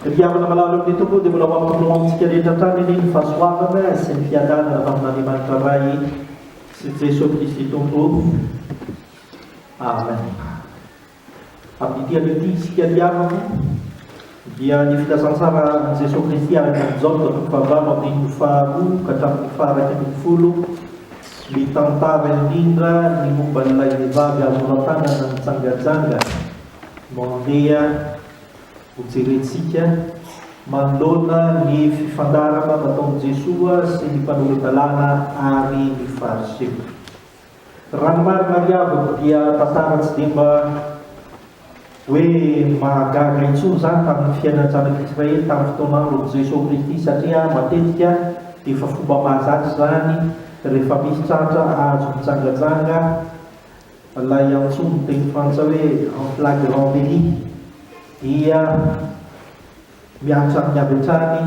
Ry havana malala eo amin'ny Tompo, dia mbola ho amin'ny Tompo amintsika rehetra hatrany anie ny fahasoavana sy ny fiadanana avy amin'Andriamanitra Ray sy Jesoa Kristy Tompo. Amen. Amin'ity anio ity isika ry havana dia ny filazantsara an'i Jesoa Kristy araka an'i Jaona toko fahavalo andininy faharoa ka hatramin'ny faharaika ambin'ny folo mitantara indrindra ny momba an'ilay vehivavy azo noratanana nijangajanga Mandeha ho jerentsika manoloana ny fifandarana nataon'i Jesoa sy ny mpanora-dalàna ary ny Fariseo. Raha ny marina ry havako dia tantara tsy dia mba hoe mahagaga intsony izany tamin'ny fiainan'ny zanak'Israely tamin'ny fotoan'andron'i Jesoa Kristy satria matetika dia efa fomba mahazatra izany rehefa misy tratra azo mitsangatsanga Ilay antsoin'ny teny frantsay hoe en flagrant délit dia mihatra amin'ny avy hatrany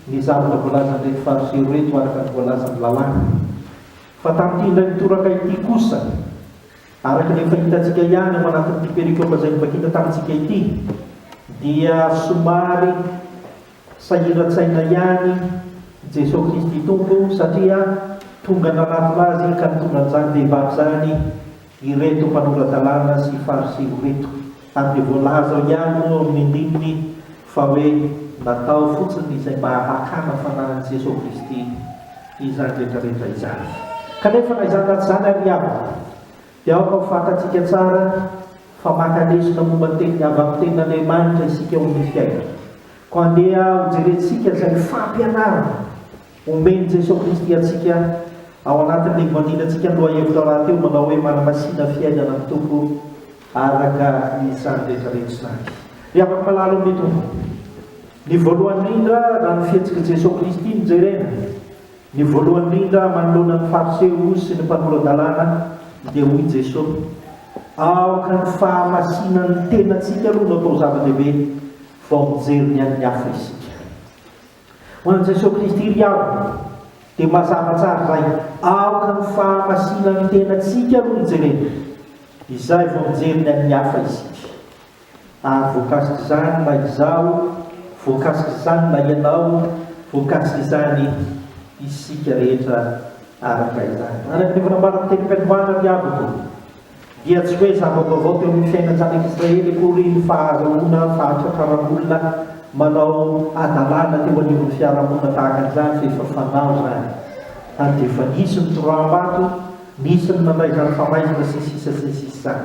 ny zavatra voalazan'ireto fariseo ireto araka ny voalazan'ny lalàna. Fa tamin'ity indray mitoraka ity kosa, araka ny efa hitantsika ihany ao anatin'ity perikopa izay novakina tamintsika ity, dia somary. Sahiran-tsaina ihany Jesoa Kristy Tompo satria tonga nanatona Azy ka nitondra an'izany vehivavy izany ireto mpanora-dalàna sy Fariseo ireto. Ary dia voalaza ao ihany moa ao amin'ny andininy fa hoe natao fotsiny izay mba hakana fanahin'i Jesoa Kristy izany rehetra rehetra izany. Kanefa na izany na tsy izany ary havana. Dia aoka ho fantatsika tsara fa maka lesona momba ny tenin'ny avy amin'ny tenin'Andriamanitra isika eo amin'ny fiainana. Koa andeha hojerentsika izay fampianarana omen'i Jesoa Kristy antsika ao anatin'ilay voadinantsika ny lohahevitra rahateo manao hoe Manamasina Fiainana ny Tompo araka izany rehetrarehetra izany. Ry havako malala ao amin'ny Tompo, ny voalohany indrindra raha ny fihetsik'i Jesoa Kristy no jerena Ny voalohany indrindra manoloana ny Fariseo sy ny mpanora-dalàna dia hoy Jesosy, Aoka ny fahamasinan'ny tenantsika aloha no atao zava-dehibe, vao mijery ny an'ny hafa isika. Ho an'i Jesosy Kristy ry havana, dia mazava tsara izay, aoka ny fahamasinan'ny tenantsika aloha no jerena, izay vao mijery ny an'ny hafa isika. Ary voakasik'izany na izaho, voakasik'izany na ianao, voakasik'izany isika rehetra araka izany. Araka ny efa nambaran'ny tenim-piandohana ny havako, dia tsy hoe zava-baovao teo amin'ny fiainan-janak'Israely akory ny fahazoana fahatratraran'olona manao hadalana teo anivon'ny fiarahamonina tahaka an'izany, fa efa fanao izany, ary dia efa nisy ny toroahambato, Nisy ny nandray izany famaizina sy sisa sy ny sisa izany.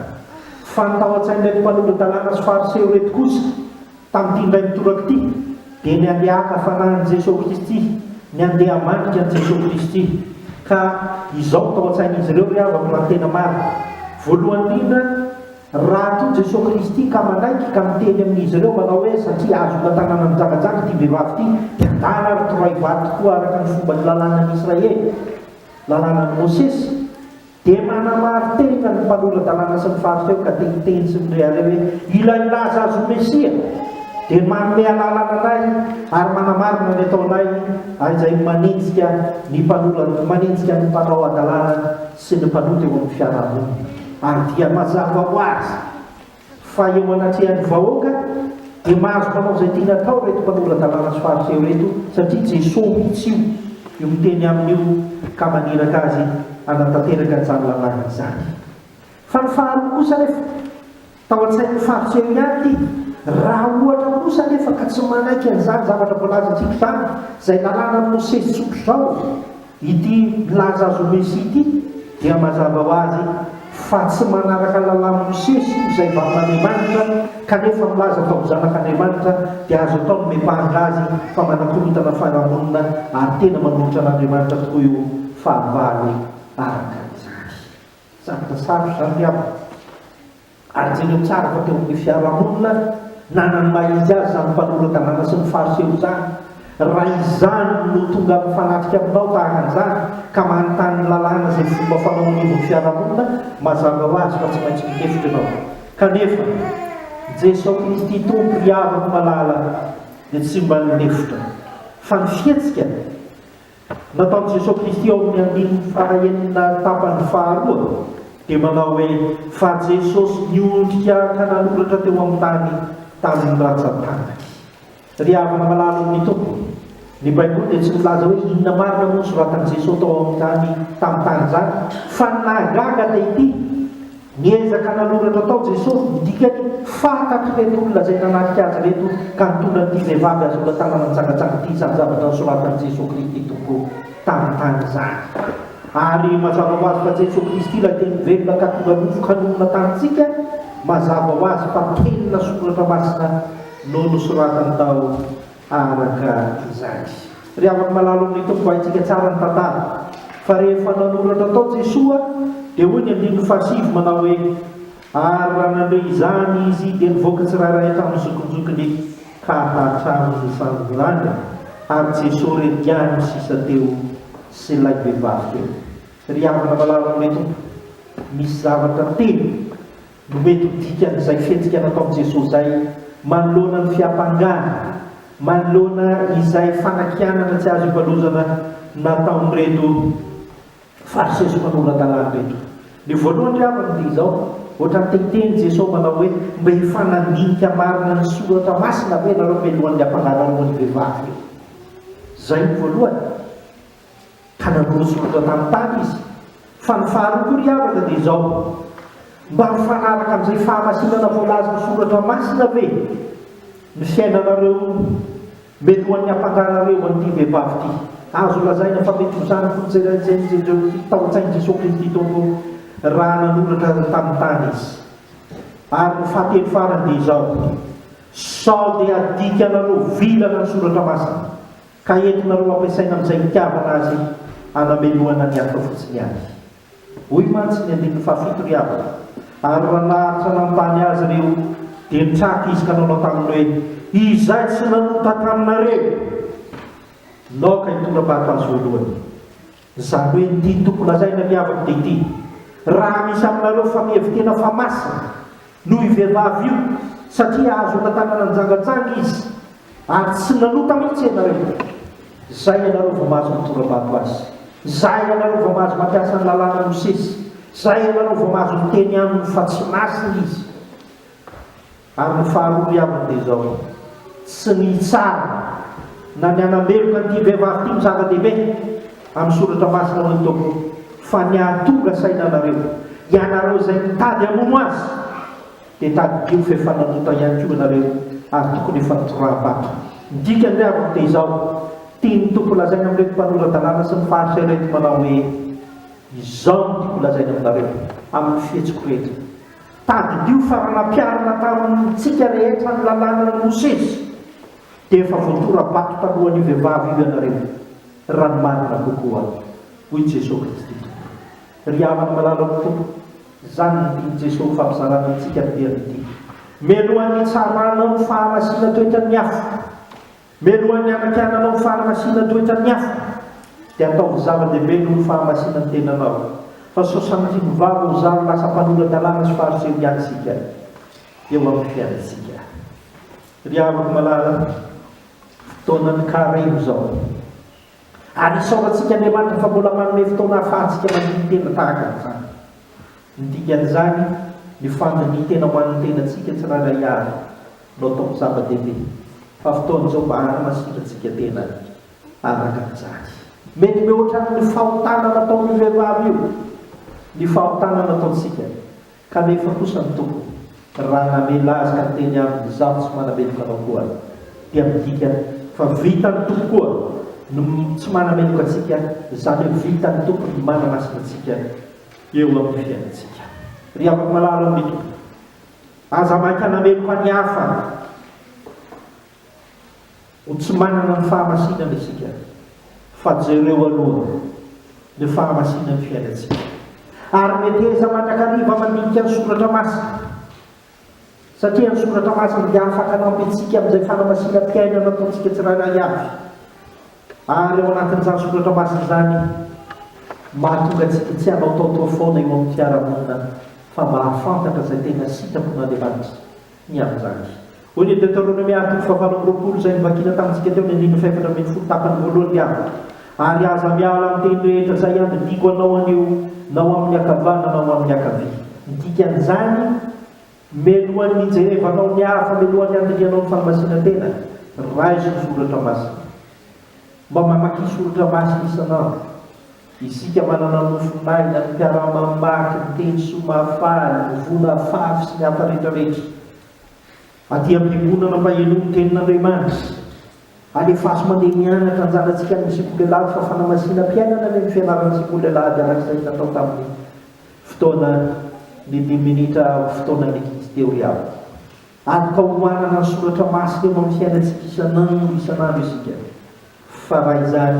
Fa ny tao an-tsain'ireto mpanolo-dalàna sy fariseo ireto kosa, tamin'ity indray mitoraka ity, dia ny handeha haka fanahin'i Jesoa Kristy, ny handeha hamandrika an'i Jesoa Kristy. Ka izao no tao an-tsain'izy ireo ry havako raha ny tena marina. Voalohany indrindra, raha tia Jesoa Kristy ka manaiky ka miteny amin'izy ireo manao hoe satria azo hotantanana mijangajanga ity vehivavy ity, dia angaha ary toray vato tokoa araka ny fomban'ny lalànan'ny Israely? Lalànan'i Mosesy, dia manamarin-tenitra ny mpanora-dalàna sy ny Fariseo ka teniteny sy mirehareha hoe, Ilay milaza azy ho Mesia dia manome alalana anay ary manamarina ny ataonay, ary izay manenjika ny mpanora, manenjika ny mpanao hadalana sy ny mpanota eo amin'ny fiarahamonina. Ary dia mazava ho azy. Fa eo anatrehan'ny vahoaka dia mahazo manao izay tiany atao ireto mpanora-dalàna sy fariseo ireto satria Jesoa mihitsy io io miteny aminy io ka maniraka azy hanatanteraka izany lalàna izany. Fa ny faharoa kosa anefa tao an-tsain'ny fariseo ihany ity, raha ohatra kosa anefa ka tsy manaiky an'izany zavatra voalazantsika izany, izay lalànan'i Mosesy tsotr'izao, Ity milaza azy ho Mesia ity dia mazava ho azy fa tsy manaraka lalàn'i Mosesy izay vavan'Andriamanitra kanefa milaza fa ho zanak'Andriamanitra dia azo atao ny mipanga azy fa manakorontana farahamonina ary tena manolotra an'Andriamanitra tokoa io fahavalo araka izany. Zavatra sarotra izany ry havana. ary jereo tsara fa teo amin'ny fiarahamonina nanana ny maha izy azy izany mpanolo-dalàna sy ny fariseho izany, raha izany no tonga mifanatrika aminao tahaka an'izany ka manontany ny lalàna izay fomba fanao anivon'ny fiarahamonina, mazava ho azy fa tsy maintsy mitefitra ianao. Kanefa, Jesosy Kristy Tompo Mpihavako malala dia tsy mba nilefitra, fa ny fihetsika Nataon'i Jesoa Kristy ao amin'ny andininy fahaenina tapany faharoa dia manao hoe, Fa Jesosy niondrika ka nanoratra teo amin'ny tany tamin'ny rantsan-tanany. Ry havana malala ao amin'ny Tompo, ny Baiboly dia tsy milaza hoe inona marina moa no soratan'i Jesoa tao amin'ny tany tamin'ny tany izany, fa ny nahagaga dia ity, Niezaka nanoratra tao Jesosy ny dikany fahatak'ireto olona izay nanatrika Azy ireto ka nitondra an'ity vehivavy azo noratanana nitsangatsanga ity izany zavatra nosoratan'i Jesosy Kristy Tompo tamin'ny tany izany. Ary mazava ho azy fa Jesosy Kristy ilay Teny velona ka tonga nofo ka nonina tamintsika, mazava ho azy fa Teny na Soratra Masina no nosoratany tao. araka izany. Ry havako malala o, ny Tompo haintsika tsara ny tantara, fa rehefa nanoratra tao Jesoa dia hoy ny andininy fahasivy manao hoe, ary raha nandre izany izy dia nivoaka tsirairay tamin'ny zokinjokiny ka hatramin'ny sangonanga, ary Jesoa re diany no sisa teo sy ilay vehivavy teo. Ry havana malala o, ny Tompo misy zavatra telo. no mety ho dikan'izay fihetsika nataon'i Jesoa izay manoloana ny fiampangana, manoloana izay fanakianana tsy azo ivalozana nataon'ireto Fariseo sy mpanora-dalàna ireto. Ny voalohany ry havana dia izao, ohatran'ny te hiteny Jesoa manao hoe, mba efa nandinika marina ny Soratra Masina ve ianareo mialohan'ny hampangalarao an'io vehivavy io? Izay ny voalohany. ka nanorozon'olona tanontany izy, fa ny faharoa koa ry havana dia izao, mba mifanaraka amin'izay fahamasinana voalazan'ny soratra masina ve ny fiainanareo mety ho an'ny ampakarareo an'ity vehivavy ity? Azo lazaina fa mety ho izany koa ny jerenjeren'ireo tia tao an-tsain'i Jesoa Kristy teo aloha raha nanoratra ny tanontany izy. Ary ny fahatelo farany dia izao, sao dia adikanareo vilana ny soratra masina? Ka entina roa ampiasaina amin'izay itiavana azy hanamelohana ny hafa fotsiny ihany. Hoy mantsy ny andininy fahafito ry havana, ary raha naharitra nanontany azy ireo dia nitraka izy ka nanao taminy hoe, Izay tsy nanota taminareo, naoka hitondra-bato azy voalohany. Izany hoe ity toko lazaina ny havany dia ity, Raha misy aminareo fa mihevi-tena fa masina, noho io vehivavy io, satria azo hotantanana nijangajanga izy, ary tsy nanota mihitsy ianareo, izay ianareo vao mahazo mitora-bato azy, izay ianareo vao mahazo mampiasa ny lalànan'i Mosesy, izay ianareo vao mahazo miteny aminy fa tsy masina izy. Ary ny faharoa iaviny dia izao, tsy ny hitsara na ny hanameloka an'ity vehivavy ity no zava-dehibe amin'ny soratra masina, hoy ny Tompo, fa ny hahatonga saina anareo. Ianareo izay mitady hamono azy, dia tadidio fe fananota ihany koa ianareo ary tokony efa tora-bato. Ny dikany ry havako dia izao, tian'ny Tompo holazaina amin'ireto mpanora-dalàna sy ny faritra ireto manao hoe, Izao no tiako holazaina aminareo, amin'ny fihetsiko rehetra. Tadidio fa raha nampiharina tamintsika rehetra ny lalànan'i Mosesy dia efa voatora-bato taloha an'io vehivavy io ianareo, raha ny marina kokoa, hoy Jesosy Kristy Tompo. Ry havana malala amin'ny Tompo, izany no tian'i Jesosy ho fampizarana antsika amin'ity andro ity. Mialohan'ny hitsaranao ny fahamasina toetran'ny afo, Mialohan'ny hanakiana anao ny fanamasinana toetran'ny afo, dia ataovy zava-dehibe aloha ny fahamasinan'ny tenanao, fa sao sanatria mivava ho zary lasa mpanora-dalàna sy fariseo ihany isika eo amin'ny fiainantsika. Ry havako malala, fotoanan'ny karemy izao. Ary isaorantsika Andriamanitra fa mbola manome fotoana ahafahantsika mandidy tena tahaka an'izany. Ny dikan'izany, ny fandinihan-tena ho an'ny tenantsika tsirairay avy no ataoko zava-dehibe, fa fotoana izao mba hanamasitrantsika tena araka an'izany. Mety mihoatra ny fahotana nataon'io vehivavy io ny fahotana nataontsika. Kanefa kosa ny Tompo, raha namela azy ka niteny aminy, Izaho tsy manameloka anao koa, dia midika fa vitan'ny Tompo koa ny tsy manameloka antsika, izany hoe vitan'ny Tompo ny manamasina antsika eo amin'ny fiainantsika. Ry havako malala ao amin'ny Tompo, aza maika hanameloka ny hafa. Ho tsy manana ny fahamasinana isika, fa jereo aloha ny fahamasinan'ny fiainantsika. Ary meteza mandrakariva mandinika ny Soratra Masina, satria ny Soratra Masina dia afaka hanampy antsika amin'izay fanamasinam-piainana ataontsika tsirairay avy. Ary ao anatin'izany Soratra Masina izany, mahatonga antsika tsy hanaotaotoa foana eo amin'ny fiarahamonina, fa mba hahafantatra izay tena sitrapon'Andriamanitra. ny abijaky. Hoy ny Deoteronomia andininy fahavalo amby roapolo izay novakina tamintsika teo ny andininy fahefatra ambin'ny folo tapany voalohany ny avy, Ary aza miala amin'ny teny rehetra izay iadidiako anao anio na ho amin'ny ankavana na ho amin'ny ankavia. Ny dikan'izany, Melohan'ny hijerevanao ny hafa, melohan'ny handinihanao ny fanamasinantena, raiso ny soratra masina. Mba mamaky soratra masina isan'andro. Isika manana nofy maina ny mpiara-mamaky ny teny soa mahafahany mivoana afafy sy ny hafa rehetra rehetra. Aty am-piangonana mba henoy ny tenin'Andriamanitra. Alefaso mandeha mianatra anjanantsika any Tsikolelady fa fanamasinam-piainana anie ny fianarana Tsikolelady araka izay natao tamin'ny fotoana ny dimy minitra amin'ny fotoanan'ny ankizy teo ry havana. Aloka homanana ny soratra masina eo amin'ny fiainantsika isan'andro isan'andro isika fa raha izany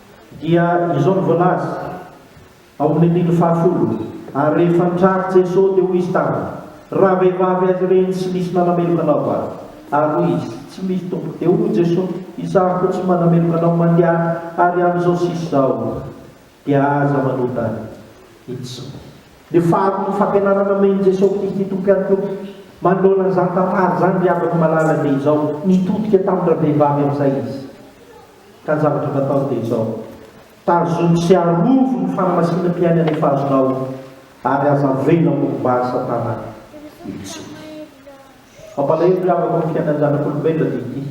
Dia izao no voalaza ao amin'ny andininy fahafolo, Ary rehefa nitrary Jesosy, dia hoy izy taminy, Raha vehivavy azy ireny, tsy misy nanameloka anao va? Ary hoy izy, Tsy misy, Tompoko. Dia hoy Jesosy, Izaho koa tsy manameloka anao mandehana ary amin'izao sisa izao, dia aza manota intsony. Ny faharoan'ny fampianarana omen'i Jesosy Kristy Tompo ihany koa manoloana izany tantara izany, ry havako malala, dia izao, Nitodika tamin-dravehivavy amin'izay izy. Ka ny zavatra natao dia izao, tazony sy arovo ny fanamasinam-piainana efa azonao, ary aza avela ho mba Satana intsony. Mampalahelo ry havako ny fiainan'ny zanak'olombelona dia ity,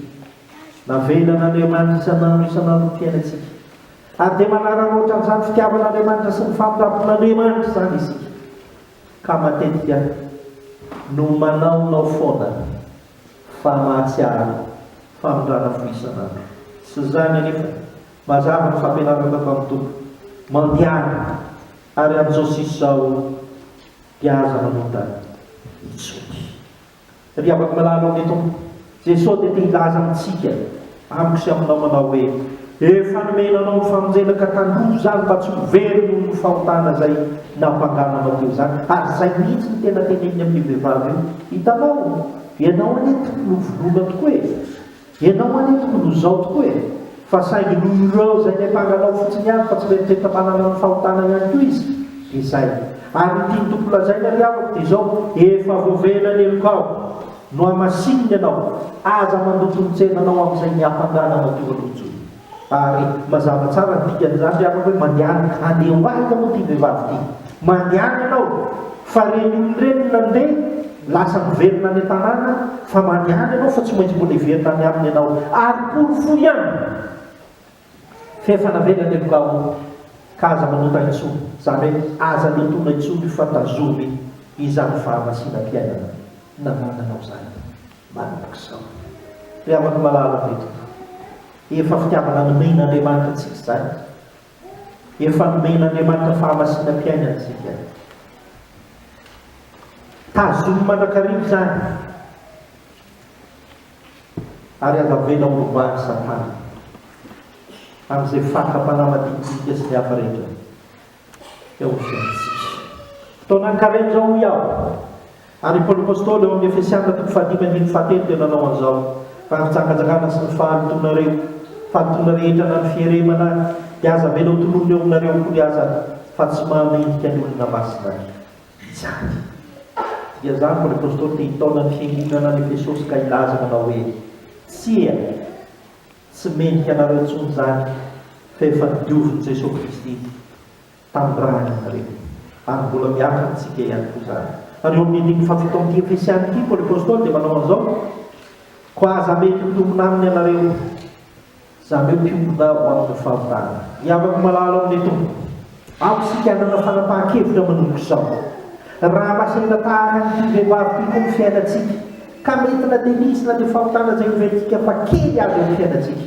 navelan'Andriamanitra isan'andro isan'andro ny fiainantsika, ary dia manararaotra an'izany fitiavan'Andriamanitra sy ny famindrampon'Andriamanitra izany isika, ka matetika no manaonao foana fa mahatsiaro famindrana fo isan'andro. Tsy izany anefa, mazava ny fampianarana tato amin'ny toko, Mandehana, ary amin'izao sisa izao dia aza manota intsony. Ry havako malala ao amin'ny Tompo, Jesoa dia te hilaza amintsika. Amiko sy aminao manao hoe, Efa nomena anao ny famonjena ka tandrovo izany mba tsy ho very noho ny fahotana izay nampangano anao teo izany. Ary izay mihitsy no tena teneniny amin'io vehivavy io, Hitanao, ianao anie tokony ho vonoina tokoa e! Ianao anie tokony ho izao tokoa e! Fa saingy noho ireo izay niampanga anao fotsiny ihany fa tsy mieritreritra manana ny fahotana ihany koa izy, dia izay. Ary ny tian'ny Tompo lazaina ry havako dia izao, Efa voavela ny helokao. Nohamasininy ianao, aza mandroso ny tsenanao amin'izay miampangana matoa ny hijoro. Ary mazava tsara ny dikan'izany ry havako hoe mandehana, andeha ho aiza moa ity vehivavy ity? Mandehana ianao fa ireny olona ireny no nandeha, lasa miverina any an-tanàna, fa mandehana ianao fa tsy maintsy mbola hiverina any aminy ianao, ary porofoy ihany! F'efa navelany ny loka ao ka aza manota intsony, zany hoe aza notona intsony fa tazomy izany fahamasinam-piainana nanananao zany malaky sao. Ry havako malala ry Tompo, efa fitiavana nomen'Andriamanitra antsika izany, efa nomen'Andriamanitra fahamasinam-piainana antsika, tazomy mandrakariva izany, ary andavena ho lovain'i Satana amin'izay fatra-panahy maditidika sy ny hafa rehetra dia ho fiainantsika. Fotoanankarena izao hoy aho, ary i Paoly Apostoly ao amin'ny Efesiana toko fahadimy andininy fahatelo dia nanao an'izao, Raha ny fitsangatsangana sy ny fahalotoanareo, fahalotoana rehetra na ny fieremana ary, dia aza avela hotononin'eo aminareo akory azany, fa tsy mahamendrika ny olona masina ahy. Vitsy àry dia zany vao ny Apostoly te hitaona ny fiangonana any Efesosy ka hilaza manao hoe, Tsia, tsy mendrika anareo intsony izany, fa efa diovin'i Jesoa Kristy tandrahana ianareo. Ary mbola miato amintsika ihany koa izany. Ary eo amin'ity fahavitao amin'ity Efesiana ity, Paoly Apostoly dia manao an'izao, Koa aza mety mitomina aminy ianareo. Zareo mpiombona ho amin'ny famitana. Iavako malala ao amin'ilay Tompo. Ampy isika hanana fanapahan-kevitra manomboka izao. Raha lasa hita tahaka an'ity vehivavy ity koa ny fiainantsika, ka mety na dia misy na dia famitana izay homentsika fa kely aza ny fiainantsika,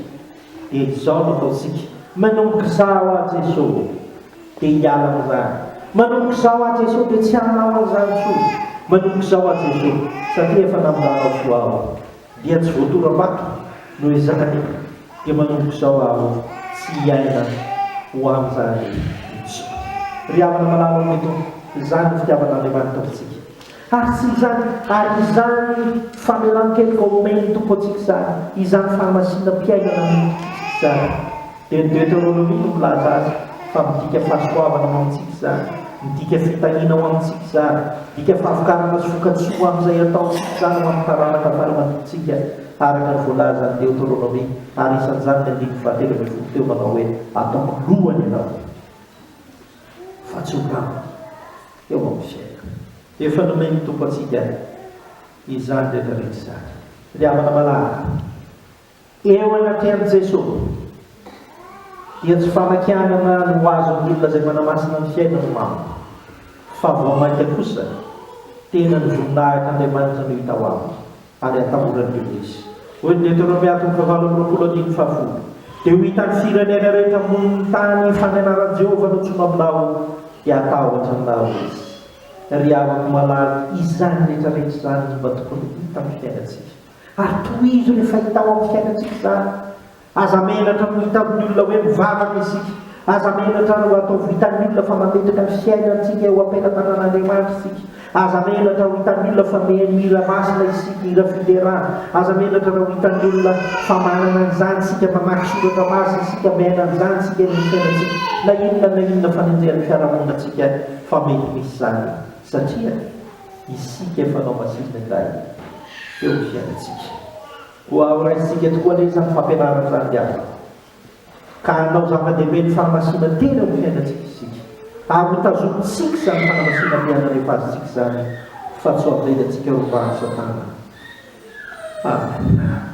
dia izao no ataontsika, Manomboka izaho aho Jeso, dia hiala amin'izany. Manomboka izaho aho Jeso, dia tsy hanao an'izany intsony. Manomboka izaho aho Jeso, satria efa naminanao soa aho. Dia tsy voatoram-bato noho izany dia manomboka izao aho tsy hiaina ho amin'izany intsony. Ry havana malala ao ny Tompo, izany ny fitiavan'Andriamanitra Tompontsika. Ary tsy izany, ary izany famelan-keloka omen'ny Tompo antsika izany, izany fahamasinam-piainana omen'ny Tompo antsika izany. Dia ny Deoteronomia no milaza azy fa midika fahasoavana ho amintsika izany, midika fitahiana ho amintsika izany, midika fahavokarana sy vokatsoa ho amin'izay ataontsika izany ho amin'ny taranaka fara-mandimitsika, araka ny voalazan'ny Deoteronomia, ary isan'izany ny andininy fahatelo ambin'ny folo teo manao hoe, Ataoko lohany ianao, fa tsy ho rambony, eo amin'ny fiainako. Efa nomen'ny Tompo antsika izany rehetra rehetra izany. Ry havana malala, Eo anatrehan'i Jeso dia tsy fanakianana no ho azon'ny olona izay manamasina ny fiainany mamo, fa vao mainka kosa tena ny voninahit'Andriamanitra no hita ho aminy ary hatahorany eo izy. Hoy ny Deteronomia toko fahavalo amby roapolo andininy fahafolo, Dia ho hitan'ny firenena rehetra ambonin'ny tany ny fandehanan'i Jehovah notsoina aminao, dia hatahotra aminareo izy. Ry havako malala, izany rehetra rehetra izany no mba tokony ho hitan'ny fiainantsika. Ary tohizo ny fahitao amin'ny fiainantsika izany. Aza menatra ny ho hitan'ny olona hoe mivavaka isika. Aza menatra ny ho ataovy hitan'ny olona fa mametraka ny fiainantsika eo am-pelatanan'Andriamanitra isika. Aza menatra ho hitan'ny olona fa mihaino hira masina isika, hira fiderana. Aza menatra raha ho hitan'ny olona fa manana an'izany isika, mamaky soratra masina isika, miaina an'izany isika eny amin'ny fiainantsika. Na inona na inona fanenjehan'ny fiarahamoninantsika fa mety misy izany satria. Isika fanao masina indray eo ny fiainantsika. Koa horaisitsika tokoa anie izany fampianarana izany ry havana. Ka hanao zava-dehibe ny fanamasinantena eo amin'ny fiainantsika isika. Ary ho tazomintsika izany fanamasinantena rehefa azontsika izany fa tsy ho avelantsika rovan'i Satana. Amen.